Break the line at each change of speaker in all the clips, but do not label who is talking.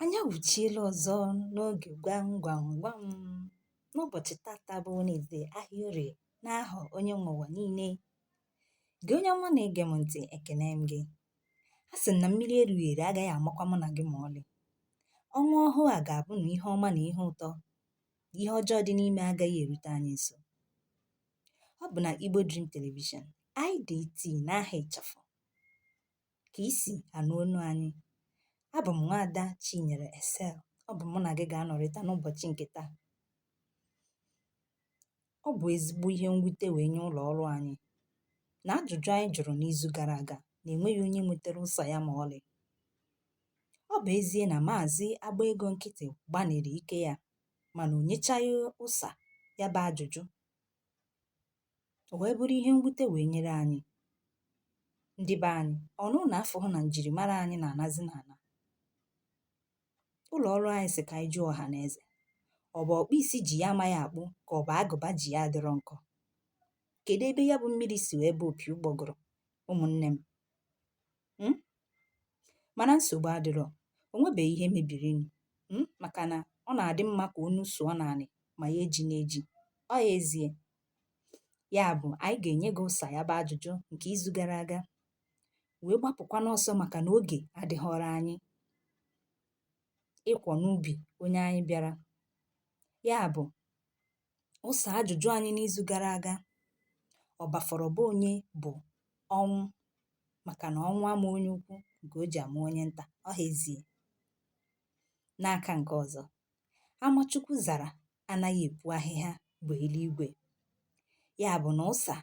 Anyị awụchiela ọzọ n'oge gwam gwam gwam n'ụbọchị tata bụ Wenezde ahịa orie n'aha onye nwe ụwa niile. Gị onye ọma na-ege m ntị ekene m gị. A sị na mmiri erughị eru agaghị amakwa mụ na gị ma ọlị. Ọnwa ọhụụ a ga-abụ na ihe ọma na ihe ụtọ, ihe ọjọọ dị n'ime agaghị erute anyị nso. Ọ bụ na Igbo Dream Television, IDT n'aha ịchafụ. ka i si anụ onu anyị. Abụ m nwaada Chinyere Esel. Ọ bụ mụ na gị ga-anọrịta n'ụbọchị nke taa. Ọ bụ ezigbo ihe mwute wee nye ụlọ ọrụ anyị na ajụjụ anyị jụrụ n'izu gara aga na enweghị onye nwetara ụsa ya ma ọlị. Ọ bụ ezie na maazị agba ego nkịtị gbaniri ike ya mana o nyechaghị ụsa ya bụ ajụjụ. O wee bụrụ ihe mwute wee nyere anyị. Ndị be anyị, ọ na ụnụ afụhụ na njirimara anyị na-anazi n'ana. Ụlọ ọrụ anyị sị ka anyị jụọ ọha na eze. Ọ bụ ọkpụ isi ji ya amaghị akpụ ka ọ bụ agụba ji ya adịrọ nkọ? Kedụ ebe ya bụ mmiri si wee baa opi ụgbọgụrụ, ụmụnne m? hmm? mana nsogbu adịrọ o nwebeghị ihe mebirinụ hmm? maka na ọ na-adị mma ka onu sụọ n'anị ma ya ejina eji ọ ya ezie ya bụ anyị ga-enye gị ụsa ya bụ ajụjụ nke izu gara aga wee gbapụkwa n'ọsọ maka na oge adịghọrọ anyị ịkọ n'ubi onye anyị bịara ya bụ ụsa ajụjụ anyị n'izu gara aga ọ bafọrọ be onye bụ ọnwụ maka na ọnwụ ama onye ukwu nke o ji ama onye nta ọ ha ezie n'aka nke ọzọ ama Chukwu zara anaghị epu ahịhịa bụ eluigwe ya bụ na ụsa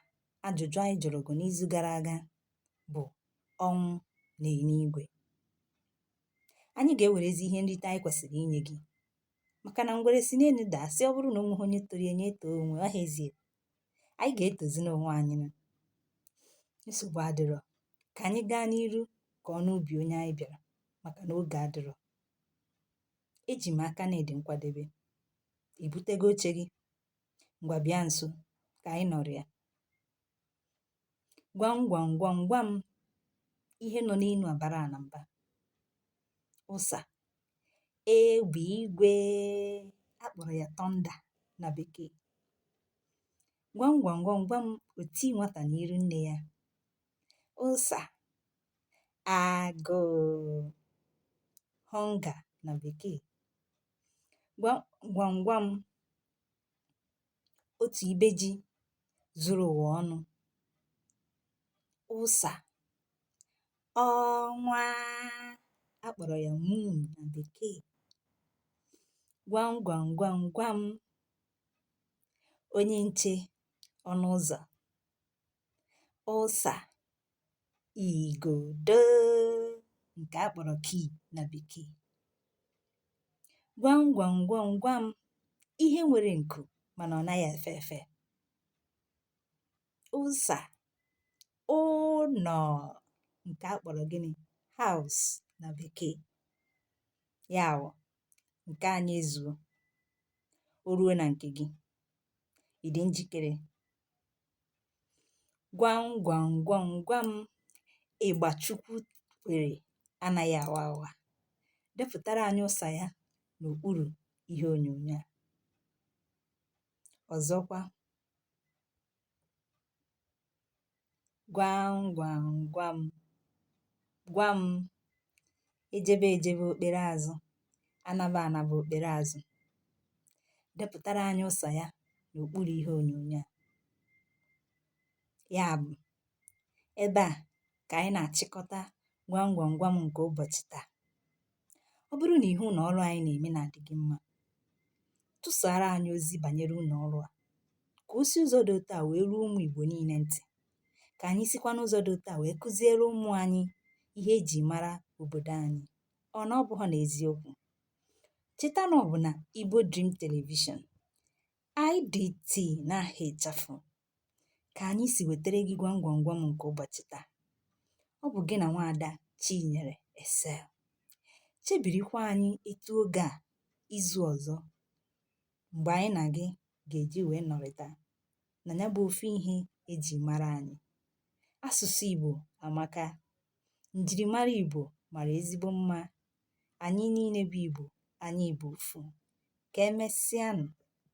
ajụjụ anyị jụrụ gị n'izu gara aga bụ ọnwụ na enuigwe anyị ga-ewerezi ihe nrite anyị kwesịrị inye gị maka na ngwere si n'enu daa sị ọ bụrụ na o nweghị onye toro ya nye etoo onwe ya, ọ ha ezie anyị ga-etozinụ onwe anyị nụ. nsogbu adịrọ ka anyị gaa n'iru kọọnụ ubi onye anyị bịara maka na oge adịrọ eji m aka na ị dị nkwadebe i butego oche gị ngwa bịa nso ka anyị nọrịa Gwam gwam gwam gwam ihe nọ n'enu abara ana mba. Ụsa. Egbe igwe a kpọrọ ya thunder na bekee. Gwam gwam gwam gwam oti nwata n'iru nne ya. Ụsa. Agụụ. Hunger na bekee. Gwam gwam gwam otù ibe ji zuru ụ̀wà ọnụ ụsà ọnwa a kpọ̀rọ̀ ya moon na bekee gwam gwam gwam gwam onye nche ọnụ ụzọ̀ ụsa igodo nke a kpọrọ key na bekee gwam gwam gwam gwam ihe nwere nku mana ọ naghị efe efe ụsa ụnọ nke a kpọrọ gịnị house na bekee ya wụ nke anyị ezuo o ruo na nke gị ị dị njikere Gwam gwam gwam gwam ịgba Chukwu kwere anaghị awa awa. Depụtara anyị ụsa ya n'okpuru ihe onyonyo a. Ọzọkwa, gwam gwam gwam gwam ejebe ejebe o kpere azụ anaba anaba o kpere azụ depụtara anyị ụsa ya n'okpuru ihe onyonyo a ya bụ ebe a ka anyị na-achịkọta gwam gwam gwam nke ụbọchị taa ọ bụrụ na ihe ụlọ ọrụ anyị na-eme na-adị gị mma tụsara anyị ozi banyere ụlọ ọrụ a ka o si ụzọ dị otu a wee ruo ụmụ Igbo niile ntị ka anyị sikwa n'ụzọ dị otu a wee kuziere ụmụ anyị ihe eji mara obodo anyị ọ na ọ bụghị n'eziokwu cheta na ọ bụ na Igbo Dream Television IDT n'aha ịchafụ ka anyị si wetara gị gwam gwam gwam nke ụbọchị taa ọ bụ gị na nwaada Chinyere Esel chebirikwa anyị etu oge a izu ọzọ mgbe anyị na gị ga-eji wee nọrịta na ya bụ ofu ihe eji mara anyị asụsụ Igbo amaka njirimara Igbo mara ezigbo mma anyị niile bụ Igbo anyị bụ ofu ka emesịanụ